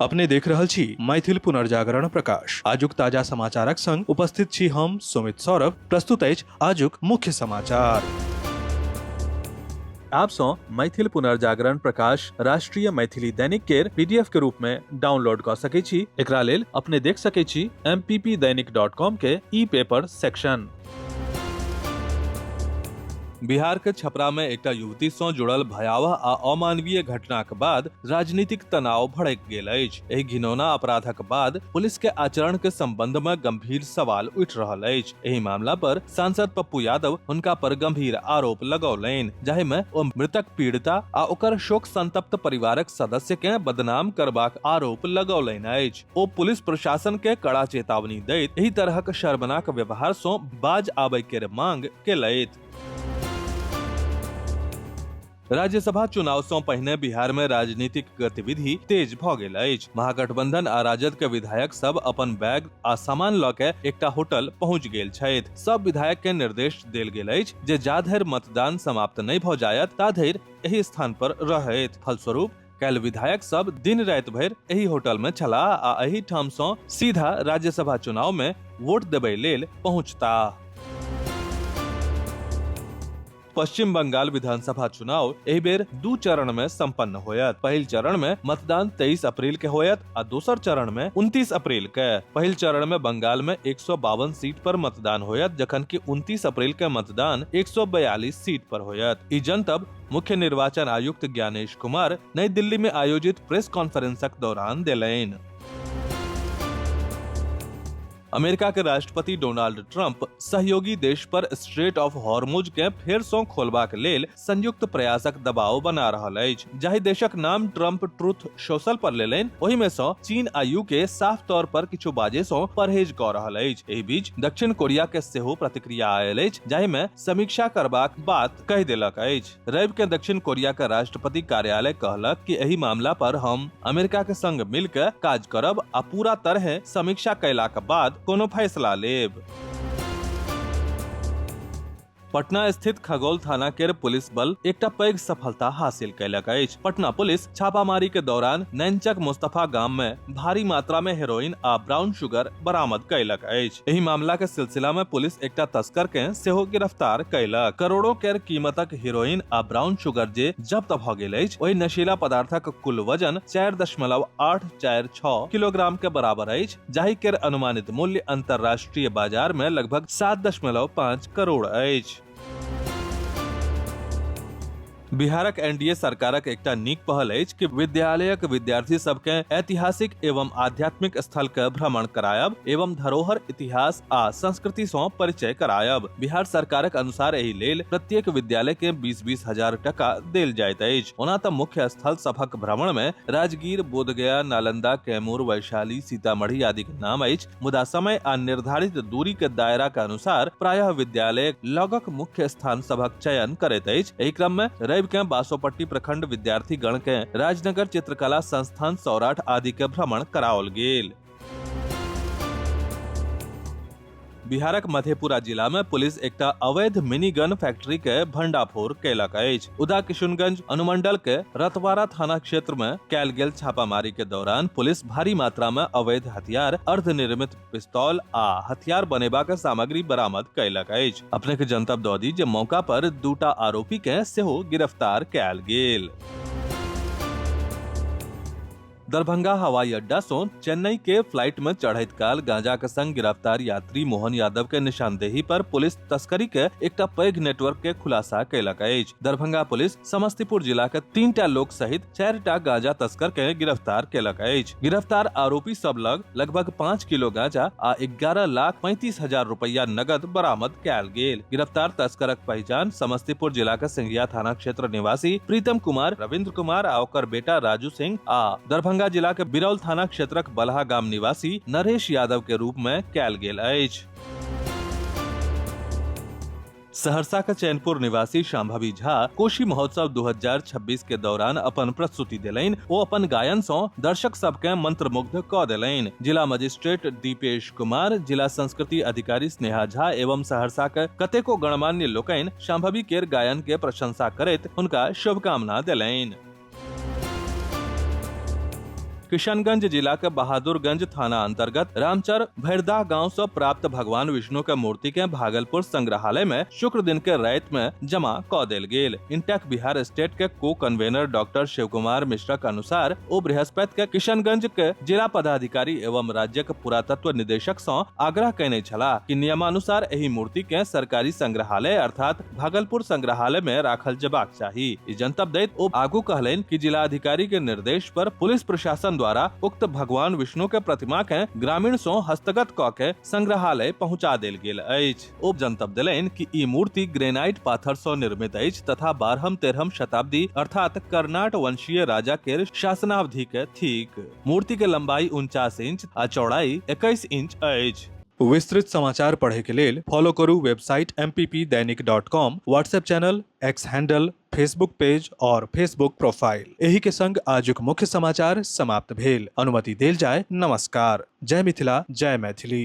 अपने देख रहल छी मैथिल पुनर्जागरण प्रकाश आजुक ताजा समाचारक संग उपस्थित छी हम सुमित सौरभ प्रस्तुत अछि आजुक मुख्य समाचार आप सौ मैथिल पुनर्जागरण प्रकाश राष्ट्रीय मैथिली दैनिक केर पीडीएफ के रूप में डाउनलोड क सके छी एकरा लेल अपने देख सके छी mppdainik.com के ई पेपर सेक्शन बिहार के छपरा में एकटा युवती सं जुड़ल भयावह आ अमानवीय घटनाक बाद राजनीतिक तनाव भड़क गेल अछि एहि घिनौना अपराधक बाद पुलिस के आचरण के संबंध में गंभीर सवाल उठि रहल अछि एहि मामला पर सांसद पप्पू यादव हुनका पर गंभीर आरोप लगौलनि जाहि में ओ मृतक पीड़िता आ ओकर शोक संतप्त परिवारक सदस्य के बदनाम करबाक आरोप लगौलनि अछि ओ पुलिस प्रशासन के कड़ा चेतावनी दैत एहि तरहक शर्मनाक व्यवहार सं बाज आबय के मांग केलथि राज्यसभा चुनाव सं पहिने बिहार में राजनीतिक गतिविधि तेज भ गेल अछि महागठबंधन आ राजद के विधायक सब अपन बैग आ सामान ल के एकटा होटल पहुंच गेल छथि सब विधायक के निर्देश देल गेल अछि जे जा धरि मतदान समाप्त नहि भ जायत ता धरि एहि स्थान पर रहैत फलस्वरूप काल्हि विधायक सब दिन राति भरि एहि होटल में छलाह आ एहि ठाम सं सीधा राज्यसभा चुनाव में वोट देबय लेल पहुंचताह पश्चिम बंगाल विधानसभा चुनाव एहि बेर दू चरण में संपन्न होयत पहिल चरण में मतदान 23 अप्रैल के होयत आ दोसर चरण में 29 अप्रैल के पहिल चरण में बंगाल में एक सीट पर मतदान होयत जखन कि 29 अप्रैल के मतदान 142 सीट पर होयत ई जनतब मुख्य निर्वाचन आयुक्त ज्ञानेश कुमार नई दिल्ली में आयोजित प्रेस कॉन्फ्रेंसक दौरान देलनि अमेरिका के राष्ट्रपति डोनाल्ड ट्रंप सहयोगी देश पर स्ट्रेट ऑफ हॉर्मुज के फेर सँ खोलबाक लेल संयुक्त प्रयासक दबाव बना रहल अछि जाहि देशक नाम ट्रंप ट्रुथ सोशल पर लेलनि ओहि में सँ चीन आ यूके साफ तौर पर किछु बाजे सँ परहेज कऽ रहल अछि एहि बीच दक्षिण कोरिया के सेहो प्रतिक्रिया आयल अछि जाहि में समीक्षा करबाक बात कहि देलक अछि रवि के दक्षिण कोरिया के राष्ट्रपति कार्यालय कहलक कि एहि मामला पर हम अमेरिका के संग मिल के काज करब आ पूरा तरह समीक्षा कैला के बाद कोनो फैसला लेब पटना स्थित खगौल थाना के पुलिस बल एकटा पैघ सफलता हासिल कैलक अछि पटना पुलिस छापामारी के दौरान नैनचक मुस्तफा गांव में भारी मात्रा में हेरोइन आ ब्राउन शुगर बरामद कैलक अछि एहि मामला के सिलसिला में पुलिस एकटा तस्कर के सेहो गिरफ्तार कैलक करोड़ों के कीमतक हेरोइन आ ब्राउन शुगर जे जब्त भ गेल अछि ओहि नशीला पदार्थक कुल वजन चारि दशमलव आठ चारि छओ किलोग्राम के बराबर अछि जाहि के अनुमानित मूल्य अंतर्राष्ट्रीय बाजार में लगभग सात दशमलव पाँच करोड़ अछि बिहारक एनडीए सरकारक एकटा नीक पहल अछि कि विद्यालयक विद्यार्थी सबके ऐतिहासिक एवं आध्यात्मिक स्थल के भ्रमण करायब एवं धरोहर इतिहास आ संस्कृति सँ परिचय करायब बिहार सरकारक अनुसार एहि लेल प्रत्येक विद्यालय के बीस बीस हजार टका देल जाइत अछि ओना तऽ मुख्य स्थल सभक भ्रमण मे राजगीर बोधगया नालंदा कैमूर वैशाली सीतामढ़ी आदि के नाम अछि मुदा समय आ निर्धारित दूरी के दायरा के अनुसार प्रायः विद्यालय लगक मुख्य स्थान सभक चयन करैत अछि एहि क्रम में रवि के बासोपट्टी प्रखंड विद्यार्थी गण के राजनगर चित्रकला संस्थान सौराठ आदि के भ्रमण कराओल गेल बिहारक मधेपुरा जिला में पुलिस एकटा अवैध मिनी गन फैक्ट्री के भंडाफोड़ कयलक अछि उदा किशुनगंज अनुमंडल के रतवारा थाना क्षेत्र में कैल गेल छापामारी के दौरान पुलिस भारी मात्रा में अवैध हथियार अर्धनिर्मित पिस्तौल आ हथियार बनेबा के सामग्री बरामद कैलक अछि अपने के जनतब दऽ दी जे मौका पर दूटा आरोपी के सेहो गिरफ्तार कैल गेल दरभंगा हवाई अड्डा सो चेन्नई के फ्लाइट में चढ़ैत काल गांजा के संग गिरफ्तार यात्री मोहन यादव के निशानदेही पर पुलिस तस्करी के एकटा पैघ नेटवर्क के खुलासा कैलक अछि दरभंगा पुलिस समस्तीपुर जिला के तीन टा लोक सहित चारि टा गांजा तस्कर के गिरफ्तार कैलक अछि गिरफ्तार आरोपी सब लग लगभग पाँच किलो गांजा आ एगारह लाख पैंतीस हजार रुपया नगद बरामद कयल गेल गिरफ्तार तस्करक पहचान समस्तीपुर जिला के सिंघिया थाना क्षेत्र निवासी प्रीतम कुमार रविंद्र कुमार आ ओकर बेटा राजू सिंह आ दरभंगा जिला के बिरौल थाना क्षेत्रक बलहा गाम निवासी नरेश यादव के रूप में कयल गेल अछि सहरसा के चैनपुर निवासी शाम्भवी झा कोशी महोत्सव 2026 के दौरान अपन प्रस्तुति देलनि ओ अपन गायन सँ दर्शक सबके मंत्रमुग्ध क देलनि जिला मजिस्ट्रेट दीपेश कुमार जिला संस्कृति अधिकारी स्नेहा झा एवं सहरसा के कतेको गणमान्य लोकनि शाम्भवी केर गायन के प्रशंसा करैत हुनका शुभकामना देलनि किशनगंज जिला के बहादुरगंज थाना अंतर्गत रामचर भैरदा गांव से प्राप्त भगवान विष्णु के मूर्ति के भागलपुर संग्रहालय में शुक्र दिन के रात में जमा क देल गेल इंटेक बिहार स्टेट के co convener doctor Shiv Kumar Mishra के अनुसार ओ बृहस्पति के किशनगंज के जिला पदाधिकारी एवं राज्य के पुरातत्व निदेशक से आग्रह कैने छला कि नियमानुसार एहि मूर्ति के सरकारी संग्रहालय अर्थात भागलपुर संग्रहालय में राखल जबाक चाही ई जनतब दैत ओ आगू कहलनि कि जिला अधिकारी के निर्देश पर पुलिस प्रशासन द्वारा उक्त भगवान विष्णु के प्रतिमा के ग्रामीण सो हस्तगत क के संग्रहालय पहुंचा देल गेल अछि ओ जनतब देलनि कि ई मूर्ति ग्रेनाइट पाथर सो निर्मित अछि तथा बारहम तेरहम शताब्दी अर्थात कर्नाट वंशीय राजा के शासनावधि के थिक मूर्ति के लंबाई उनचास इंच आ चौड़ाई इक्कीस इंच अछि विस्तृत समाचार पढ़े के लेल फॉलो करू website M P P Dainik dot com WhatsApp channel X handle Facebook page और फेसबुक प्रोफाइल एही के संग आजुक मुख्य समाचार समाप्त भेल अनुमति देल जाय नमस्कार जय मिथिला जय मैथिली